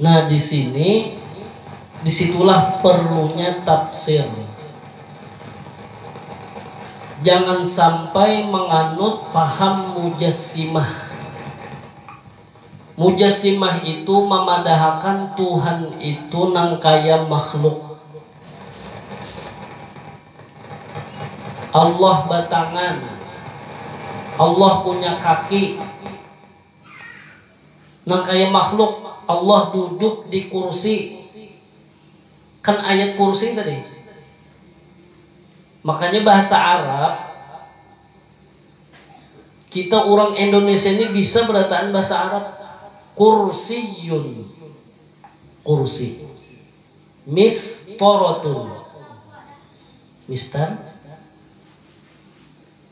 Nah di sini di situlah perlunya tafsir. Jangan sampai menganut paham mujassimah. Mujassimah itu memadahakan Tuhan itu nang kaya makhluk. Allah batangan, Allah punya kaki, Nang kaya makhluk Allah duduk di kursi, kan ayat kursi tadi. Makanya bahasa Arab, kita urang Indonesia ni bisa berataan bahasa Arab. Kursiyun, kursi. Mistorotun, mistar.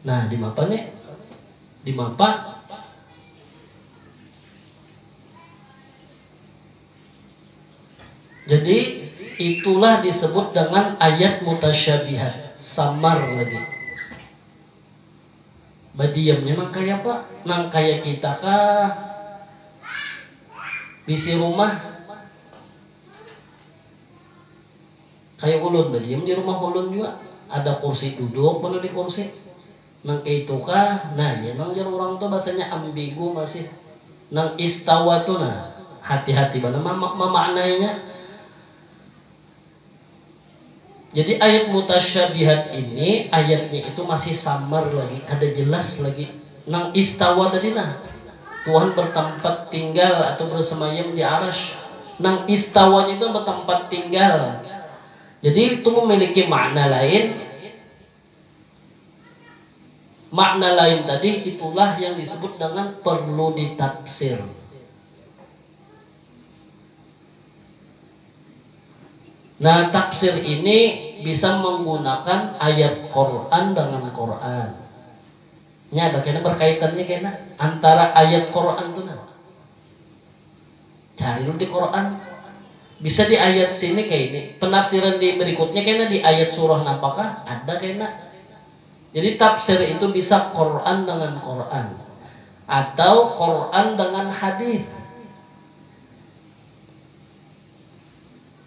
Nah, dimapa ne? Dimapa? Jadi itulah disebut dengan ayat mutasyabihat, samar lagi. Badiamnya nang kaya apa? Nang kaya kita kah? Bisi rumah Kaya ulun badiam di rumah ulun jua ada kursi duduk banar di kursi nang kaitu kah nah iya nang jar urang tu bahasanya ambigu masih nang istawa tu nah hati hati banar mamaknainya jadi ayat mutasyabihat ini ayatnya itu masih samar lagi kada jelas lagi Nang Istawa tadi nah, Tuhan bertempat tinggal atau bersemayam di Arsy. Nang Istawanya itu bertempat tinggal. Jadi itu memiliki makna lain. Makna lain tadi itulah yang disebut dengan perlu ditafsir. Nah, tafsir ini bisa menggunakan ayat Quran dengan Quran. Nya ada kena berkaitannya kena antara ayat Quran tu nah. Cari dulu di Quran. Bisa di ayat sini kayak ini. Penafsiran di berikutnya kena di ayat surah napakah? Ada kena. Jadi tafsir itu bisa Quran dengan Quran atau Quran dengan hadis.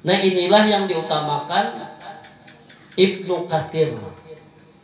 Nah inilah yang diutamakan Ibnu Katsir.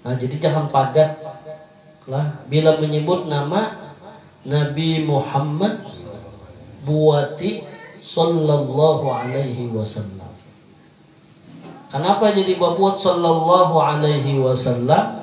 Nah jadi jangan pagat lah bila menyebut nama Nabi Muhammad buati Sallallahu Alaihi Wasallam. Kanapa jadi babuat Sallallahu Alaihi Wasallam?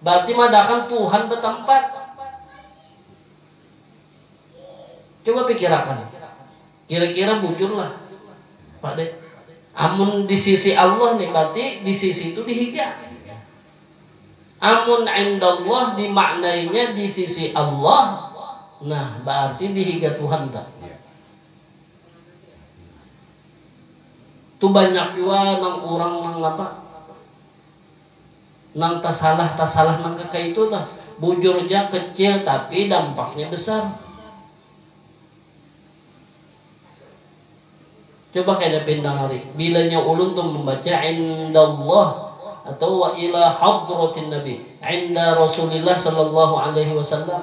Barti madahakan Tuhan batampat. Cuba pikirakan, kira-kira bujur lah Pak deh. Amun di sisi Allah nih barti di sisi itu di higa. Amun indallah dimaknainya di sisi Allah, nah baarti di higa Tuhan tah. Tu banyak jua nang urang nang apa, Nang tasalah tasalah nang kaka itu tuh bujur ja kecil tapi dampaknya besar. Coba kena pindang ari bilanya ulun tuh membaca indallah atau wa ila hadratin nabi inda rasulillah sallallahu alaihi wasallam.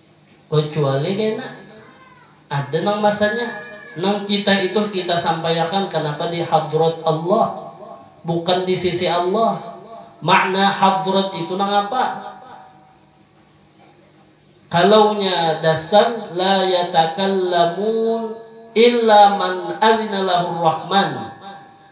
Kecuali kena ada nang masanya nang kita itu kita sampaiakan kanapa di hadrat Allah bukan di sisi Allah. Makna hadrat itu nangapa? Kalaunya dasar la yatakallamun illa man adhina lahur rahman.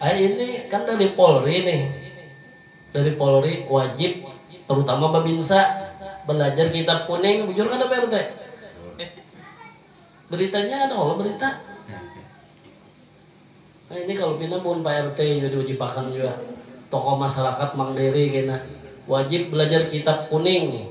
Ay ini kan dari Polri nih. Dari Polri wajib terutama Babinsa belajar kitab kuning, bujur kada Pak RT? Beritanya ada kalo berita. Nah ini kalau pina mun Pak RT jua diwajibakan jua tokoh masyarakat Mang Dery kena wajib belajar kitab kuning.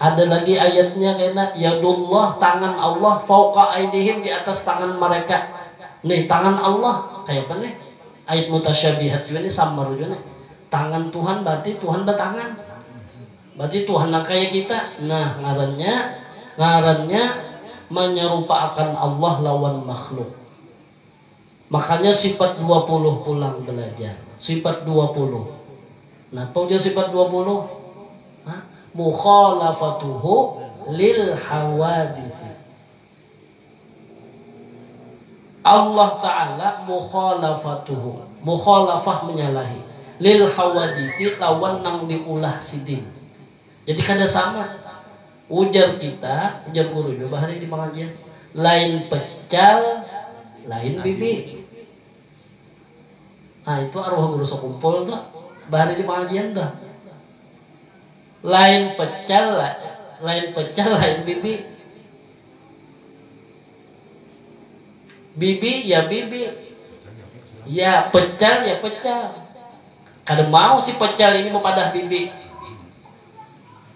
Ada lagi ayatnya kena, Yadullah, tangan Allah, fauqa aidihim, di atas tangan mereka. Nih, tangan Allah, kayapa nih? Ayat mutasyabihat jua nih, samar jua nih. Tangan Tuhan berarti Tuhan batangan. Berarti Tuhan nang kaya kita. Nah, ngarannya, ngarannya manyarupaakan Allah lawan makhluk. Makanya sifat dua puluh pulang belajar. Sifat dua puluh. Napa ujar sifat dua puluh? Ha? Mukhalafatuhu lil hawaditsi. Allah Ta'ala mukhalafatuhu. Mukhalafah menyalahi. Lil hawaditsi lawan nang diulah sidin. Jadi kada sama. Ujar kita, ujar gurunya bahari di pangajian, lain pecal, lain bibi. Nah itu arwah guru sekumpul tuh, bahari di pangajian tuh. Lain pecal, lain pecal, lain bibi. Bibi ya bibi, ya pecal ya pecal. Kada mau si pecal ini bepadah bibi.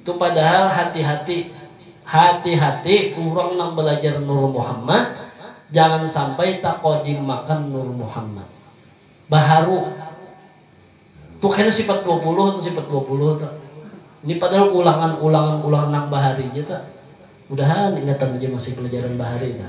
Tu padahal hati hati hati hati urang nang balajar nur muhammad jangan sampai takodimakan nur muhammad baharu tu kena sifat dua puluh tu sifat dua puluh tu ni padahal ulangan ulangan ulangan nang bahari ja tu mudahan ingatan ja masih pelajaran bahari tu.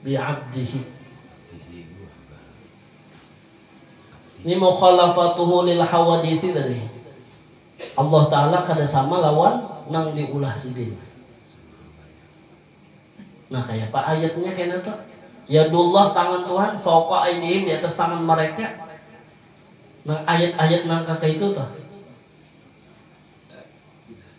bi abdihi. Ni mukhalafatuhu lil hawadithi tadi. Allah Ta'ala kada sama lawan nang di ulah Sidin. Nah kayapa ayatnya kena tu? Yadullah tangan Tuhan fauqa aidihim di atas tangan mereka. Nang ayat-ayat nang kakaitu tu.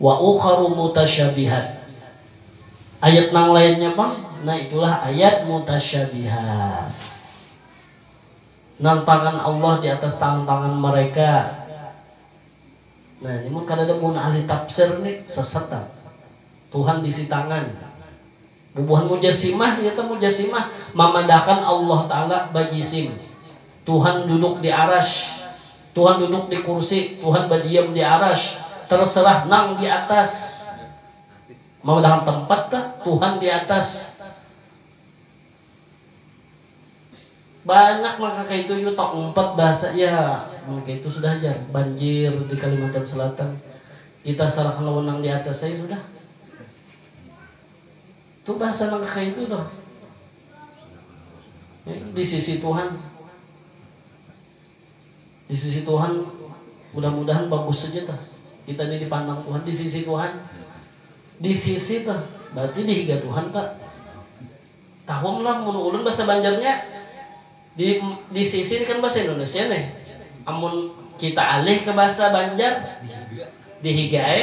Wa ukharu mutasyabihat. Ayat nang lainnya pang, nah itulah ayat mutasyabihat. Nang tangan Allah di atas tangan-tangan mereka. Nah, ini mun kadada mun ahli tafsir ni sesat am. Tuhan bisi tangan. Bubuhan mujasimah inya teh mujasimah mamadahakan Allah taala bajisim. Tuhan duduk di arasy, Tuhan duduk di kursi, Tuhan badiam di arasy, terserah nang di atas. Mamadahakan tempat kah, Tuhan di atas. Banyak nang kakaitu jua taumpat bahasa ya mun kaitu sudah jar banjir di Kalimantan Selatan. Kita sarahkan lawan nang di atas ai sudah. Itu bahasa nang kakayitu tuh. Di sisi Tuhan. Di sisi Tuhan mudah-mudahan bagus saja tuh. Kita ini dipandang Tuhan di sisi Tuhan. Di sisi tuh berarti di higa Tuhan tuh. Tahum lah mun ulun bahasa Banjarnya di di sisi ini kan bahasa Indonesia nih. Amun kita alih ke bahasa Banjar di higa ai.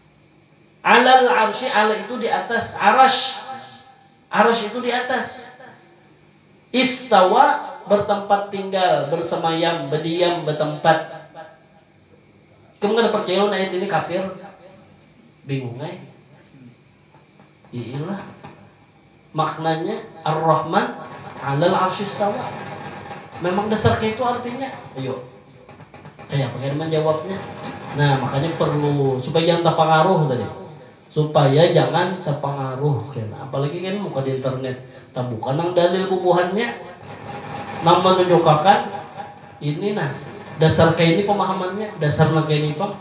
Alal arsy ala itu di atas arasy, arasy itu di atas. Istawa bertempat tinggal, bersemayam, bediam, betempat. Ikam kada percaya lawan ayat ini kafir? Bingung ai. Iilah. Maknanya, Ar-Rahman alal arsy istawa. Memang dasar kaytu artinya. Ayo, kayapa kena manjawabnya? Nah, makanya perlu supaya jangan tapangaruh tadi. Supaya jangan tapangaruh kena. Apalagi kena muka di internet. Tabuka nang dalil bubuhannya nang manunjukakan ini nah, dasar kayni pemahamannya, dasar nang kayni pang.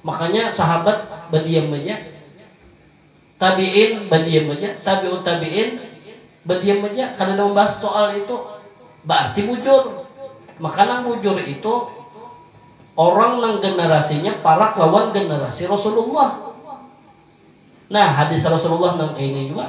Makanya sahabat badiam aja. Tabi'in badiam haja, tabi'ut tabi'in badiam haja, kadada mambahas soal itu. Baarti bujur. Maka nang bujur itu orang nang generasinya parak lawan generasi Rasulullah. Nah, hadis Rasulullah nang kaini jua.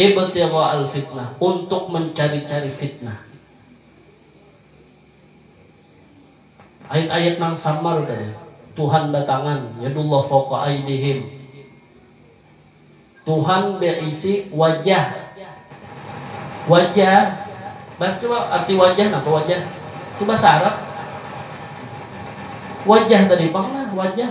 Ibtigha'al fitnah, untuk mencari-cari fitnah. Ayat-ayat nang samar tadi, Tuhan batangan, yadullah fauqa aydihim. Tuhan beisi wajah. Wajah, bahas coba arti wajah napa wajah? Itu bahasa Arab. Wajah tadi pang nah, wajah.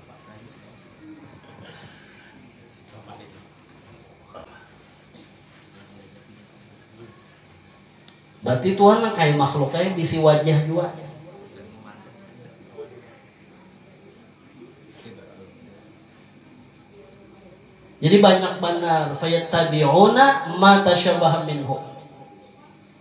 Berarti Tuhan nang kaya makhluk kaya bisi wajah jua. Jadi banyak banar fayattabi'una ma tasyabaha minhu.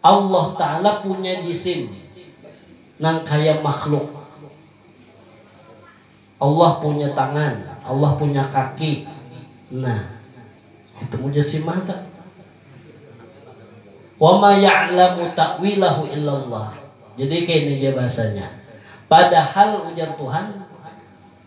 Allah Ta'ala punya jisim nang kaya makhluk. Allah punya tangan, Allah punya kaki. Nah, itu mujassimah tu. Wa ma ya'lamu ta'wilahu illallah. Jadi kini ja bahasanya. Padahal ujar Tuhan.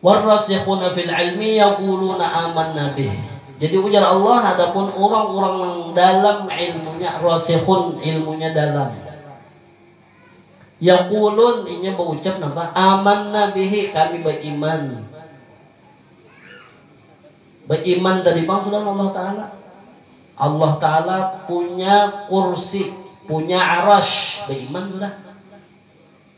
Warrasikhuna fil ilmi yaquluna amanna bih. Jadi ujar Allah adapun urang-urang nang dalam ilmunya rasikhun ilmunya dalam yaqulun inya baucap napa amanna bihi kami baiman baiman tadi pang sudah lawan Allah taala. Allah taala punya kursi punya arash baiman sudah.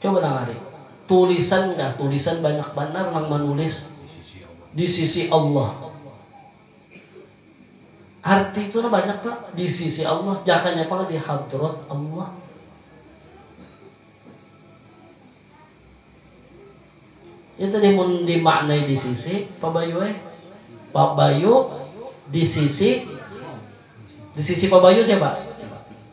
Coba nang hari. Tulisan kah? Tulisan banyak banar nang manulis di sisi Allah. Arti tu nah banyak tu, di sisi Allah, jakanya pang di hadrat Allah. Itu tadi mun dimaknai di sisi, Pa Bayu ai. Pa Bayu di sisi, di sisi Pa Bayu siapa?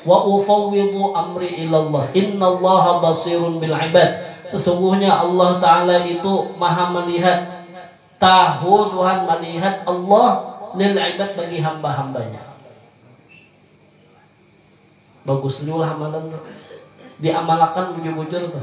Wa ufawwidhu amri ilallah innallaha basirun bil ibad sesungguhnya Allah taala itu maha melihat tahu Tuhan malihat Allah lil ibad bagi hamba-hambanya bagus jua lah amalan tu diamalakan bujur-bujur tu.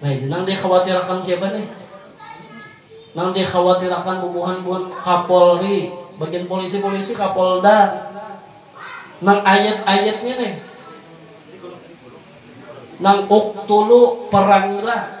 Nah ini nang dikhawatirakan siapa nih? Nang dikhawatirakan bubuhan-buhan kapolri, bagian polisi-polisi, kapolda. Nang ayat-ayatnya nih. Nang uktulu, perangilah.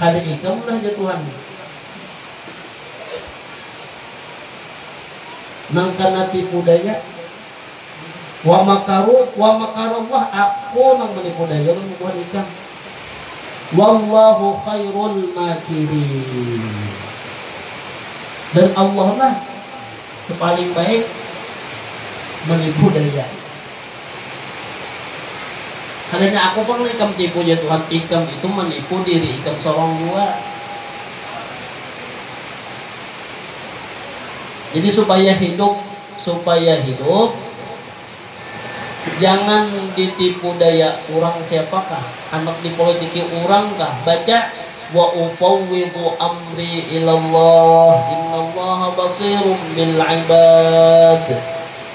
Kada ikam lah jar Tuhan. Nang kana tipu daya. Wa makaru wa makarallah aku nang manipu daya lawan bubuhan ikam. Wallahu khairul makirin. Dan Allah lah sepaling baik manipu daya. Kadanya aku pang nang ikam tipu jar Tuhan, ikam itu manipu diri ikam sorong jua. Jadi supaya hidup, supaya hidup jangan ditipu daya urang siapakah, handak dipolitiki urang kah, baca wa ufawwidhu amri ilallah innallaha basirum bil'ibad.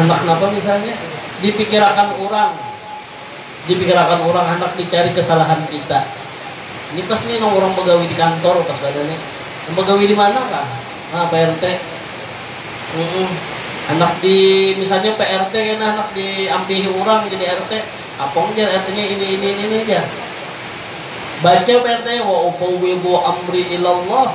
Handak napa misalnya? Dipikirakan urang. Dipikirakan urang handak dicari kesalahan kita. Ini pas nih nang urang bagawi di kantor pas kada nih. Nang bagawi di mana kah? Nah, PRT. Mm-mm. Handak di misalnya PRT kena handak diampihi urang jadi RT. Apong jar RT-nya ini ini ini ini jar. Baca PRT wa ufawwidu amri ilallah.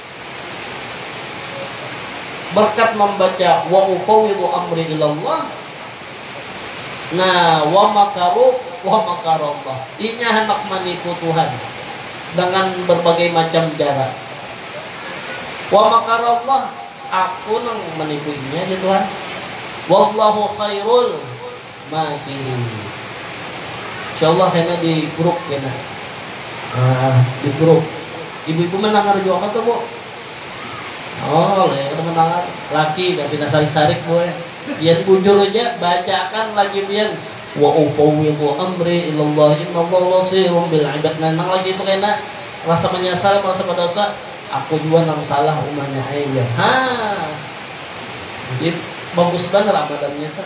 Berkat mambaca wa ufawwidhu amri ilallah Nah, wa makaru wa makarallah. Inya handak manipu Tuhan dengan berbagai macam jara. Wa makarallah, aku nang manipu inya jar Tuhan. Wallahu khairul. Mati ni. Insyaallah kena di group kena. Nah, di group. Ibu ibu mandangar jua kah tu bu? Oh, leh kada mandangar. Laki dah pina sarik sarik bu eh. Pian bujur aja, baca akan lagi pian. Wa ufawidhu amri ilallah inallah basirum bil ibad. Nah, nang laki tu kena rasa manyasal, merasa badosa. Aku jua nang salah umanya ai jar. Haa. Jadi bagus banar amalannya tu.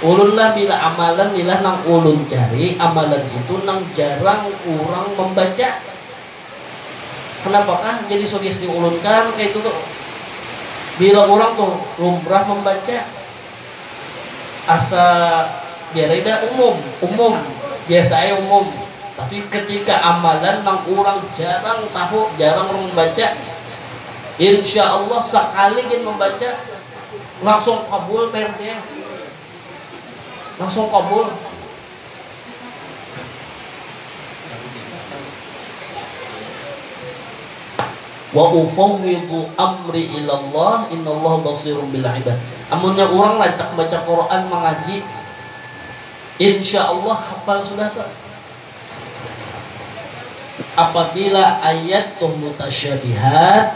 Ulunlah bila amalan nilah nang ulun cari amalan itu nang jarang urang mambaca. Kanapakah jadi sugesti ulun kan kaitu tu. Bila urang tu lumrah mambaca asa biar ai dah umum, umum, biasa ai umum. Tapi ketika amalan nang urang jarang tahu, jarang urang mambaca, insya Allah sakali gin mambaca, Langsung kabul prt nya. Langsung kabul. Wa ufawwidu amri ila Allah innallaha basirun bil ibad. Amunnya urang rancak baca Quran mangaji insyaallah hafal sudah tu. Apabila ayat tu mutasyabihat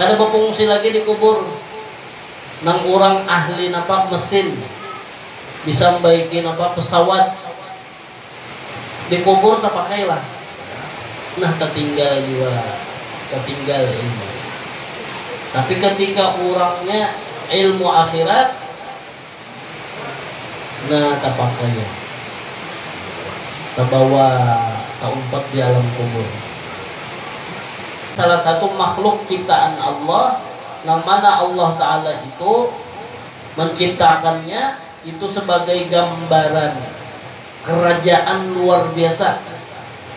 Kada bafungsi lagi di kubur. Nang urang ahli napa mesin, bisa mbaiki napa pesawat. Di kubur tapakai lah. Nah tatinggal jua, tatinggal ilmu. Tapi ketika urangnya ilmu akhirat. Na tapakaya, tabawa, taumpat di alam kubur. Salah satu makhluk ciptaan Allah nang mana Allah Ta'ala itu menciptakannya itu sebagai gambaran kerajaan luar biasa.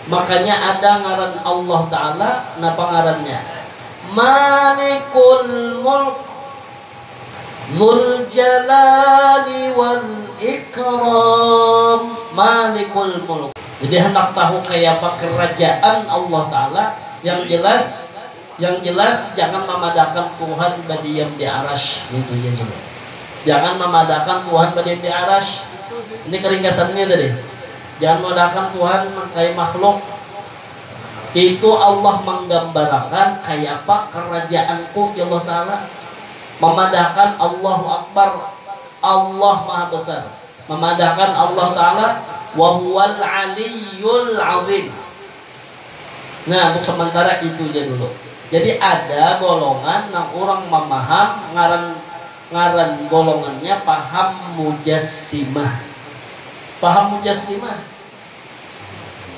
Makanya ada ngaran Allah Ta'ala, napa ngarannya? Malikul Mulk. Dzul Jalali wal Ikram, Malikul Mulk. Jadi handak tahu kayapa kerajaan Allah Taala, yang jelas yang jelas jangan mamadahakan Tuhan badiam di Arasy, ngitu ja coba. Jangan mamadahakan Tuhan badiam di Arasy. Ini keringkasannya tadi. Jangan mamadahakan Tuhan kaya makhluk. Itu Allah manggambarakan kayapa Karajaanku, jar Allah Ta'ala. Mamadahakan Allahu Akbar, Allah Maha Besar. Mamadahakan Allah Ta'ala, Wa huwal 'aliyyul 'azim. Nah, untuk samantara itu ja dulu. Jadi ada golongan nang urang mamaham ngaran ngaran golongannya paham Mujassimah. Paham Mujassimah.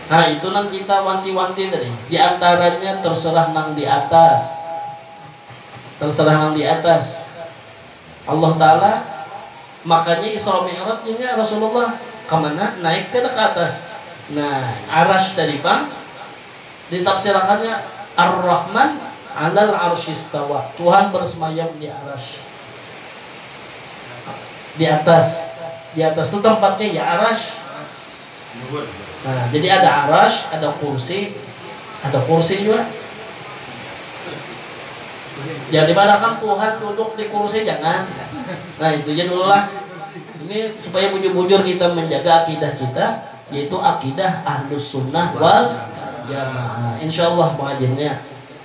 Nah itu nang kita wanti-wanti tadi, di antaranya terserah nang di atas, terserah nang di atas Allah Ta'ala, makanya Isra Mi'raj inya Rasulullah kemana? Naik kada ke atas? Nah Arasy tadi pang ditafsirakannya Ar-Rahman alal Arsy istawa, Tuhan bersemayam di Arasy, di atas, di atas tu tempatnya ya Arasy. Nah, jadi ada arash, ada kursi, ada kursi juga. Jangan dimanahkan Tuhan duduk di kursi, jangan. Nah, itu aja dulu lah. Ini supaya bujur-bujur kita menjaga akidah kita, yaitu akidah ahlus sunnah wal jamaah. Insya Allah pengajiannya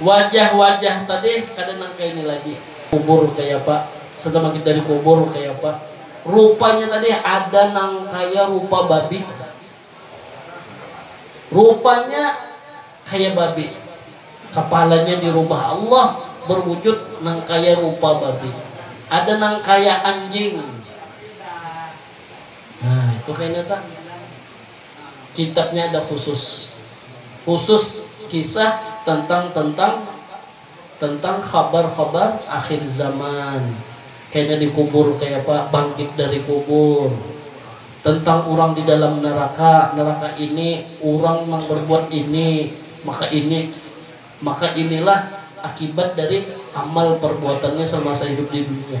Wajah-wajah tadi kada nang kaya ni lagi. Kubur kayapa, sudah magit dari kubur kayapa. Rupanya tadi ada nang kaya rupa babi. Rupanya kaya babi. Kapalanya dirubah Allah berwujud nang kaya rupa babi. Ada nang kaya anjing. Nah, itu kainata. kitabnya ada khusus khusus kisah tentang tentang tentang khabar-khabar akhir zaman kayanya dikubur kaya apa bangkit dari kubur tentang urang di dalam neraka neraka ini urang nang berbuat ini maka ini maka inilah akibat dari amal perbuatannya semasa hidup di dunia.